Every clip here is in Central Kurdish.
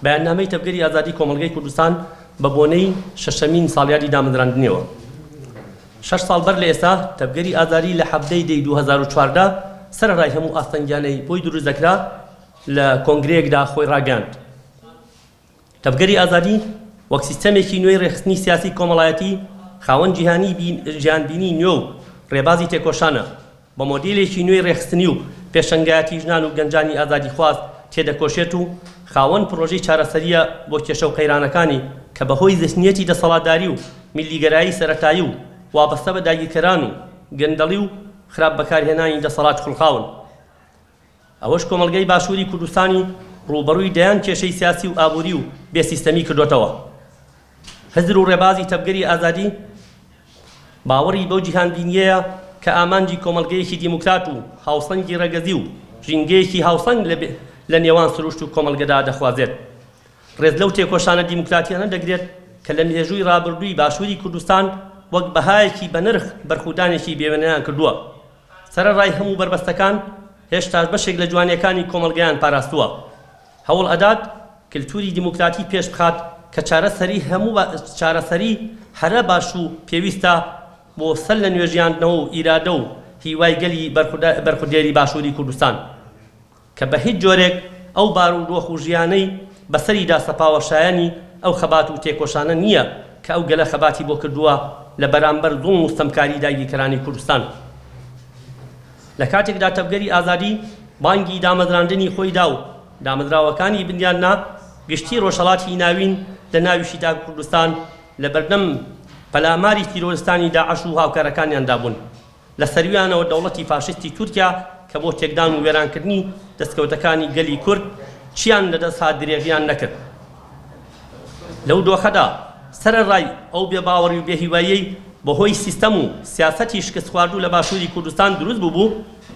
بەیاننامەی تەڤگەری ئازادی کۆمەڵگەی کوردستان بە بۆنەی شەشەمین ساڵیادی دامەزراندنیەوە شەش ساڵ بەر لە ئێستا تەڤگەری ئازادی لە حەڤدەی دەی دوو هەزار و چواردە سەرەڕای هەموو ئاستەنگیانەی بۆی دروست دەکرا لە کۆنگرەیەکدا خۆی ڕاگەیاند تەڤگەری ئازادی وەک سیستەمێکی نوێی ڕێکخستنی سیاسی کۆمەڵایەتی خاوەن جیهانی جیهانبینی نوێ و ڕێبازی تێکۆشانە بە مۆدێلێکی نوێی ڕێکخستنی و پێشەنگایەتی ژنان و گەنجانی ئازادیخواز تێدەکۆشێت و خاوەن پڕۆژەی چارەسەرییە بۆ کێشە و قەیرانەکانی کە بەهۆی زهنییەتی دەسەڵاتداری و میللیگەرایی سەرەتایی و وابەستە بە داگیرکەران و گەندەڵی و خراپ بەکارهێنانی دەسەڵات خوڵقاون. ئەوەش کۆمەڵگەی باشووری کوردستانی ڕووبەڕووی دەیان کێشەی سیاسی و ئابووری و بێ سیستەمی کردۆتەوە. هزر و ڕێبازی تەڤگەری ئازادی باوەڕی بەو جیهانبینییەیە کە ئامانجی کۆمەڵگەیەکی دیموکرات و هاوسەنگی ڕەگەزی و ژینگەیەکی هاوسەنگ لە نێوان سروشت و کۆمەڵگەدا دەخوازێت. ڕێز لەو تێکۆشانە دیموکراتییانە دەگرێت کە لە مێژووی ڕابردووی باشووری کوردستان وەک بەهایەکی بەنرخ بەرخودانێکی بێوێنەیان کردووە. سەرەڕای هەموو بەربەستەکان، هێشتاش بەشێک لە جوانییەکانی کۆمەڵگەیان پاراستووە. هەوڵ ئەدات کلتوری دیموکراتی پێش بخات کە چارەسەری هەموو چارەسەری هەرە باش و پێویستە بۆ سەر لە نوێژیاندنەوە و ئیرادە و هیوای گەلی بەرخودێری باشووری کوردستان. کە بە هیچ جۆرێک ئەو بار و دۆخ و ژیانەی بە سەریدا سەپاوە شایەنی ئەو خەبات و تێکۆشانە نییە کە ئەو گەلە خەباتی بۆ کردووە لە بەرامبەر زوڵم و ستەمکاری داگیرکەرانی کوردستان لە کاتێکدا تەڤگەری ئازادی بانگی دامەزراندنی خۆی دا و دامەزراوەکانی بنیاد نا گشتی ڕۆژهەڵاتی ناوین لە ناویشیدا کوردستان لە بەردەم پەلاماری تیرۆرستانی داعش و هاوکارەکانیاندا بوون. لە سەرویانەوە دەوڵەتی فاشیستی تورکیا کە بۆ تێکدان و وێرانکردنی دەستکەوتەکانی گەلی کورد چیان لە دەست هات درێغیان نەکرد لەو دۆخەدا سەرەڕای ئەو بێباوەڕی و بێهیواییەی بە هۆی سیستەم و سیاسەتی شکستخواردوو لە باشووری کوردستان دروست بووبوو،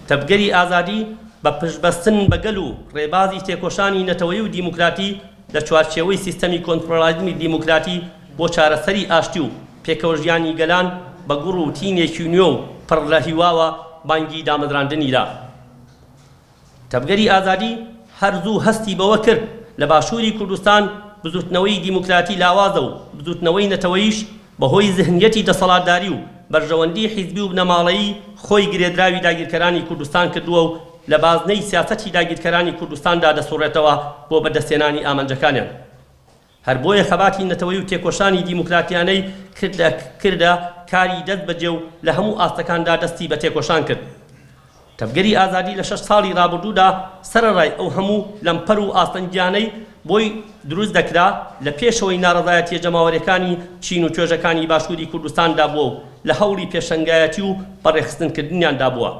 تەڤگەری ئازادی بە پشتبەستن بە گەل و ڕێبازی تێکۆشانی نەتەوەیی و دیموکراتی، لە چوارچێوەی سیستەمی کۆنفرۆلاریزمی دیموکراتی بۆ چارەسەری ئاشتی و پێکەوەژیانی گەلان بە گوڕ و تینێکی نوێ و پڕ لە هیواوە بانگی دامەزراندنی دا. تەڤگەری ئازادی هەر زوو هەستی بەوە کرد لە باشووری کوردستان بزووتنەوەی دیموکراتی لاوازە و بزووتنەوەی نەتەوەییش بەهۆی زهنیەتی دەسەڵاتداری و بەرژەوەندی حیزبی و بنەماڵەیی خۆی گرێدراوی داگیرکەرانی کوردستان کردووە و لە بازنەی سیاسەتی داگیرکەرانی کوردستاندا دەسوڕێتەوە بۆ بەدەستهێنانی ئامانجەکانیان هەر بۆیە خەباتی نەتەوەی و تێکۆشانی دیموکراتیانەی کردە کردە کاری دەست بەجێ و لە هەموو ئاستەکاندا دەستی بە تێکۆشان کرد تەڤگەری ئازادی لە شەش ساڵی رابردوودا سەرەڕای ئەو هەموو لەمپەر و ئاستەنگیانەی بۆی دروست دەکرا، لە پێشەوەی ناڕەزایەتییە جەماوەریەکانی چین و توێژەکانی باشووری کوردستاندا بووە و لە هەوڵی پێشەنگایەتی و بەڕێخستنکردنیاندا بووە.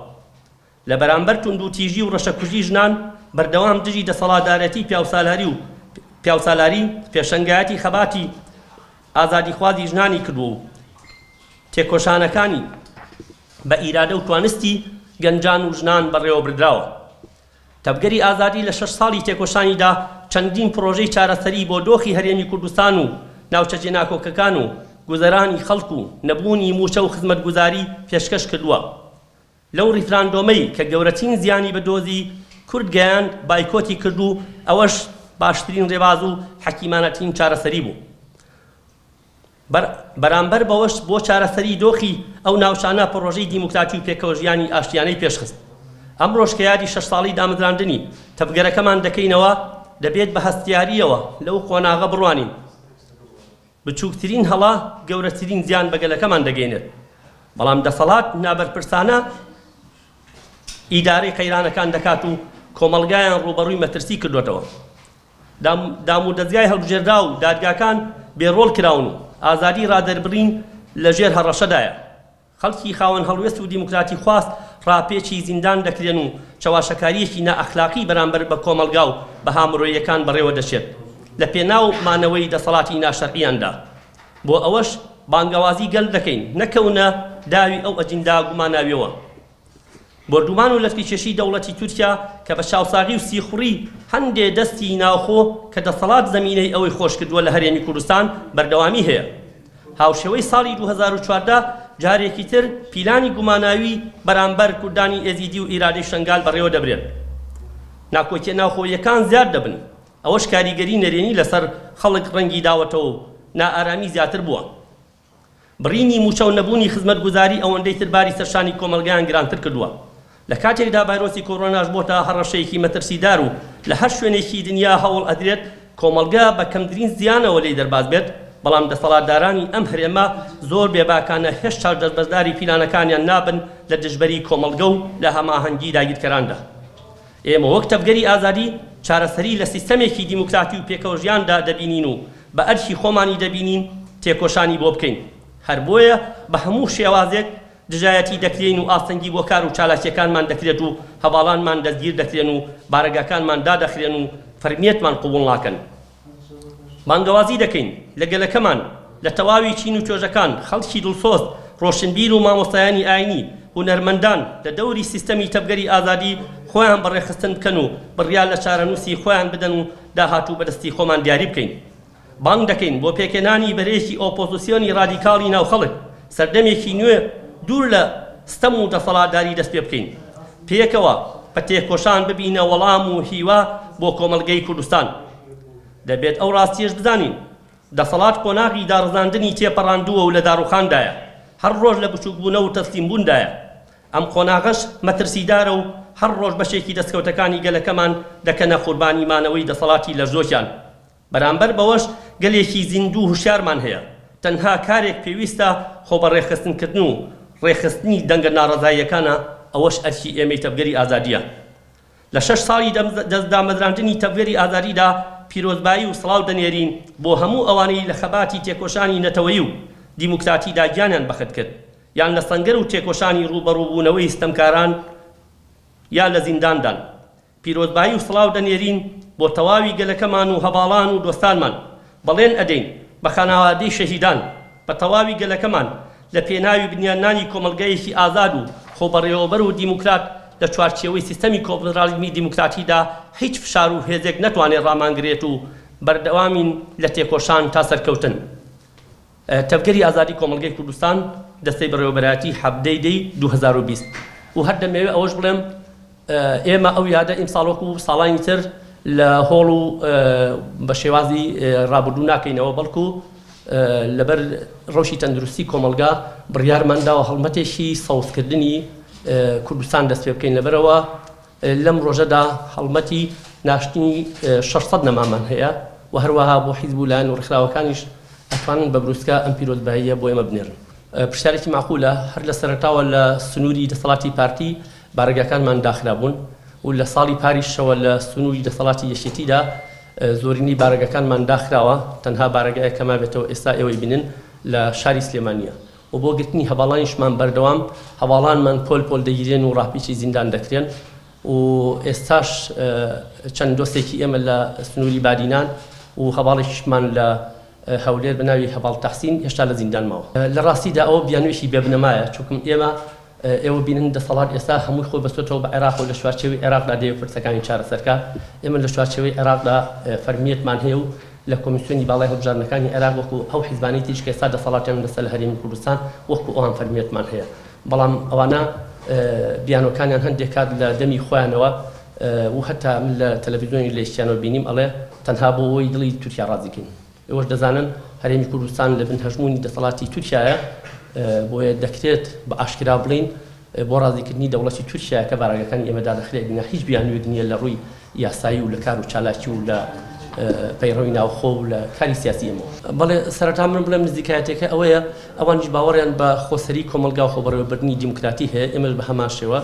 لە بەرامبەر توندوتیژی و رەشەکوژی ژنان، بەردەوام دژی دەسەڵاتدارێتی پیاوسالاری و پیاوسالاری، پێشەنگایەتی خەباتی ئازادیخوازی ژنانی کردووە و تێکۆشانەکانی بە ئیرادە و توانستی گەنجان و ژنان بەڕێوەبردراوە. تەڤگەری ئازادی لە شەش ساڵی تێکۆشانیدا چەندین پڕۆژەی چارەسەری بۆ دۆخی هەرێمی کوردستان و ناوچە جێناکۆکەکان و گوزەرانی خەڵک و نەبوونی مووچە و خزمەتگوزاری پێشکەش کردووە. لەو ڕیفراندۆمەی کە گەورەترین زیانی بە دۆزی کورد گەیاند بایکۆتی کرد و ئەوەش باشترین ڕێباز و حەکیمانەترین چارەسەری بوو. بەر بەرامبەر بەوەش بۆ چارەسەری دۆخی ئەو ناوچانە پڕۆژەی دیموکراتی و پێکەوەژیانی ئاشتیانەی پێشخست. ئەمڕۆش کە یادی شەش ساڵی دامەزراندنی تەڤگەرەکەمان دەکەینەوە دەبێت بە هەستیارییەوە لەو قۆناغە بڕوانین. بچووکترین هەڵە گەورەترین زیان بە گەلەکەمان دەگەینێت، بەڵام دەسەڵات نابەرپرسانە ئیدارەی قەیرانەکان دەکات و کۆمەڵگایان ڕووبەڕووی مەترسی کردووەتەوە. دامودەزگای هەڵبژێردراو و دادگاکان بێ ڕۆڵ کراون و ئازادی ڕادەربڕین لە ژێر هەڕەشەدایە. خەڵکی خاوەن هەڵوێست و دیموکراتیخواز ڕاپێچی زیندان دەکرێن و چەواشەکارییەکی نائەخلاقی بەرامبەر بە کۆمەڵگا و بەها مرۆییەکان بەڕێوە دەچێت لە پێناو مانەوەی دەسەڵاتی ناشەرعییاندا. بۆ ئەوەش بانگەوازی گەل دەکەین نەکەونە داوی ئەو ئەجیندا گوماناوییەوە. بۆردومان و لەتککێشی دەوڵەتی تورکیا کە بە چاوساغی و سیخوڕی هەندێ دەستی ناوخۆ کە دەسەڵات زەمینەی ئەوەی خۆشکردووە لە هەرێمی کوردستان بەردەوامی هەیە. هاوشێوەی ساڵی دوو هەزار و چواردە جارێکی تر پیلانی گوماناوی بەرامبەر کوردانی ئێزیدی و ئیرادی شەنگال بەڕێوە دەبرێن. ناکۆکیە ناوخۆییەکان زیاد دەبن. ئەوەش کاریگەری نەرێنی لەسەر خەڵک ڕەنگی داوەتەوە و نائارامی زیاتر بووە. بڕینی مووچە و نەبوونی خزمەتگوزاری ئەوەندەی تر باری سەرشانی کۆمەڵگەیان گرانتر کردووە، لە کاتێکدا ڤایرۆسی کۆرۆناش بۆتە هەڕەشەیەکی مەترسیدار و لە هەر شوێنێکی دنیا هەوڵ ئەدرێت کۆمەڵگە بە کەمترین زیانەوە لێی دەرباز بێت، بەڵام دەسەڵاتدارانی ئەم هەرێمە زۆر بێباکانە هێشتاش دەستبەرداری پیلانەکانیان نابن لە دژبەری کۆمەڵگە و لە هەماهەنگی داگیرکەراندا. ئێمە وەک تەڤگەری ئازادی چارەسەری لە سیستەمێکی دیموکراتی و پێکەوەژیاندا دەبینین و بە ئەرکی خۆمانی دەبینین تێکۆشانی بۆ بکەین، هەر بۆیە بە هەموو شێوازێک دژایەتی دەکرێین و ئاستەنگی بۆ کار و چالاکییەکانمان دەکرێت و هەڤاڵانمان دەستگیر دەکرێن و بارەگاکانمان دادەخرێن و فەرمییەتمان قبوڵ ناکەن. بانگەوازی دەکەین لە گەلەکەمان لە تەواوی چین و توێژەکان، خەڵکی دڵسۆز، ڕۆشنبیر و مامۆستایانی ئاینی، هونەرمەندان لە دەوری سیستەمی تەڤگەری ئازادی خۆیان بە ڕێکخستن بکەن و بڕیار لە چارەنووسی خۆیان بدەن و داهاتوو بە دەستی خۆمان دیاری بکەین. بانگ دەکەین بۆ پێکهێنانی بەرەیەکی ئۆپۆزسیۆنی ڕادیکاڵی ناو خەڵک، سەردەمێکی نوێ دوور لە ستەم و دەسەڵاتداری دەست پێ بکەین. پێکەوە بە تێکۆشان ببینە وەڵام و هیوا بۆ کۆمەڵگەی کوردستان. دەبێت ئەو ڕاستییەش بزانین، دەسەڵات قۆناغی داڕزاندنی تێپەڕاندووە و لە داڕووخاندایە، هەر ڕۆژ لە بچووکبوونە و تەسلیمبووندایە. ئەم قۆناغەش مەترسیدارە و هەر ڕۆژ بەشێکی دەستکەوتەکانی گەلەکەمان دەکەنە قوربانی مانەوەی دەسەڵاتی لەرزۆکیان. بەرامبەر بەوەش گەلێکی زیندوو هوشیارمان هەیە، تەنها کارێک پێویستە خۆبەڕێکخستنکردن و ڕێکخستنی دەنگە ناڕەزاییەکانە، ئەوەش ئەرکی ئێمەی تەڤگەری ئازادییە. لە شەش ساڵی دامەزراندنی تەڤگەری ئازادیدا پیرۆزبایی و سڵاو دەنێرین بۆ هەموو ئەوانەی لە خەباتی تێکۆشانی نەتەوەیی و دیموکراتیدا گیانیان بەخت کرد یان لە سەنگەر و تێکۆشانی ڕووبەڕووبوونەوەی ستەمکاران یا لە زینداندان. پیرۆزبایی و سڵاو دەنێرین بۆ تەواوی گەلەکەمان و هەڤاڵان و دۆستانمان، بەڵێن ئەدەین بە خانەوادەی شەهیدان، بە تەواوی گەلەکەمان لە پێناوی بنیاننانی کۆمەڵگەیەکی ئازاد و خۆبەڕێوەبەر و دیموکرات لە چوارچێوەی سیستەمی کۆنفدراڵیزمی دیموکراتیدا هیچ فشار و هێزێک نەتوانێت ڕامانگرێت و بەردەوامین لە تێکۆشان تا سەرکەوتن. تەڤگەری ئازادی کۆمەڵگەی کوردستان دەستەی بەڕێوەبەرایەتی حەڤدەی دەی دوو هەزار و بیست و هەر دەمەوێ ئەوەش بڵێم ئێمە ئەو یادە ئیمساڵ وەکو ساڵانی تر لە هۆڵ و بە شێوازی ڕابردوو ناکەینەوە بەڵکو لەبەر ڕەوشی تەندروستی کۆمەڵگا بڕیارمان داوە هەڵمەتێکی سەوزکردنی کوردستان دەست پێ بکەین لەبەرەوە لەم ڕۆژەدا هەڵمەتی ناشتنی شەش سەد نەمامان هەیە و هەروەها بۆ حیزب و لایەن و ڕیخراوەکانیش ئەتوانن بە بروسکە ئەم پیرۆزباییە بۆ ئێمە بنێرن. پرسیارێکی مەعقولە، هەر لە سەرەتاوە لە سنووری دەسەڵاتی پارتی بارەگاکانمان داخرابوون و لە ساڵی پاریشەوە لە سنووری دەسەڵاتی یەکێتیدا زۆرینەی بارەگاکانمان داخراوە، تەنها بارەگایەک کە مابێتەوە ئێستا ئێوەی بینن لە شاری سلێمانییە. و بۆ گرتنی هەڤاڵانیشمان بەردەوام هەڤاڵانمان پۆل پۆل دەگیرێن و ڕاپیچی زیندان دەکرێن و ئێستاش چەند دۆستێکی ئێمە لە سنووری بادینان و هەڤاڵێکیشمان لە هەولێر بە ناوی هەڤاڵ تەحسین هێشتا لە زیندان ماوە لە ڕاستیدا ئەوە بیانوویەکی بێبنەمایە چونکم ئێمە ئێوە بینن دەسەڵات ئێستا هەمووی خۆی بەستۆتەوە بە عێراقەوە لە چوارچێوەی عێراقدا دەیەوێت پرسەکانی چارەسەرکا، ئێمە لە چوارچێوەی عێراقدا فەرمییەتمان هەیە و لە کۆمیسیۆنی باڵای هەڵبژاردنەکانی عێراق وەکو ئەو حیزبانەی تریش کە ئێستا دەسەڵاتیان بەستە لە هەرێمی کوردستان وەکو ئەوان فەرمییەتمان هەیە بەڵام ئەوانە بیانوەکانیان هەندێک کات لە دەمی خۆیانەوە و هەتا من لە تەلەفیزیۆنی لە ئیشتیانەوە بینیم ئەڵێ تەنها بۆ ئەوەی دڵی تورکیا ڕازی کەین ئێوەش دەزانن هەرێمی کوردستان لە بن هەژموونی دەسەڵاتی تورکیایە، بۆیە دەکرێت بە ئاشکرا بڵێین بۆ ڕازیکردنی دەوڵەتی تورکیایە کە بارەگاکانی ئێمە دادەخرێت، ئەگینا هیچ بیانوویەک نییە لە ڕووی یاسایی و لە کار و چالاکی و لە پەیڕەوی ناوخۆ و لە کاری سیاسی ئێمەوە. بەڵێ، سەرەتا من بڵێم نزیکایەتییەکە ئەوەیە ئەوانیش باوەڕیان بە خۆسەری کۆمەڵگا و خۆبەڕێوەبردنی دیموکراتی هەیە، ئێمەش بە هەمان شێوە،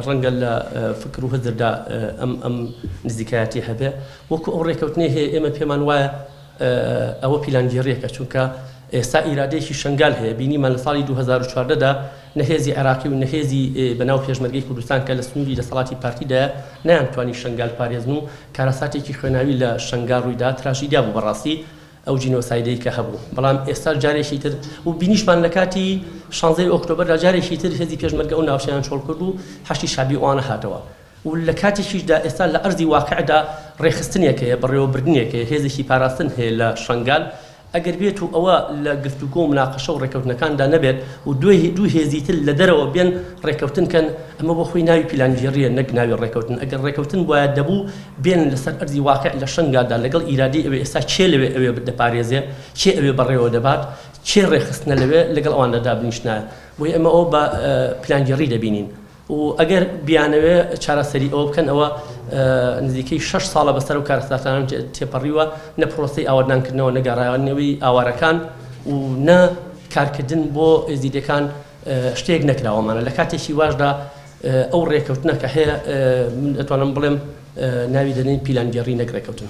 ڕەنگە لە فکر و هزردا ئەم ئەم نزیکایەتیە هەبێ، وەکو ئەو ڕێکەوتنەی هەیە ئێمە پێمان وایە ئەوە پیلانگێڕیەکە، چونکە ئێستا ئیرادەیەکی شەنگال هەیە، بینیمان لە ساڵی دوو هەزار و چواردە دا نە هێزی عێراقی و نە هێزی بە ناو پێشمەرگەی کوردستان کە لە سنووری دەسەڵاتی پارتیدایە نەیانتوانی شەنگال بپارێزن و کارەساتێکی خوێناوی لە شەنگال ڕوویدا، تراژیدیا بوو بەڕاستی. ئەو جینۆسایدەی کە هەبوو بەڵام ئێستا جارێکی تر و بینیشمان لە کاتی شانزەی ئۆکتۆبەردا جارێکی تر هێزی پێشمەرگە ئەو ناوچەیان چۆڵ کرد و حەشدی شەعبی ئەوانە هاتەوە و لە کاتێکیشدا ئێستا لە ئەرزی واقعدا ڕێکخستنێک هەیە بەڕێوەبردنێک هەیە هێزێکی پاراستن هەیە لە شەنگال ئەگەر بێت و ئەوە لە گفتوگۆ و مناقەشە و ڕێکەوتنەکاندا نەبێت و دوێ دوو هێزی تر لە دەرەوە بێن ڕێکەوتن کەن ئەمە بۆ خۆی ناوی پیلانگێڕییە نەک ناوی ڕێکەوتن ئەگەر ڕێکەوتن بوایە دەبوو بێنن لەسەر ئەرزی واقیع لە شەنگالدا لەگەڵ ئیرادەی ئەوێ ئێستا کێ لەوێ ئەوێ دەپارێزێ کێ ئەوێ بەڕێوە دەبات کێ ڕێکخستنە لەوێ لەگەڵ ئەواندا دابنیشنایە بۆیە ئەمە ئەوە بە پلانگێڕی دەبینین و ئەگەر بیانەوێ چارەسەری ئەوە بکەن ئەوە نزیکەی شش ساڵە بەسەر و کارەساتانان تێپەڕیوە نە پرۆسی ئاوەدانکردنەوەی ئاوارەکان و نە کارکردن بۆ ئێزیدەکان شتێک نەکراوەمانە لە کاتێکی واشدا ئەو ڕێکەوتنە کە هەیە من ئەتوانم بڵێم ناوی دەنێین پیلانگێڕی نەک ڕێکەوتن.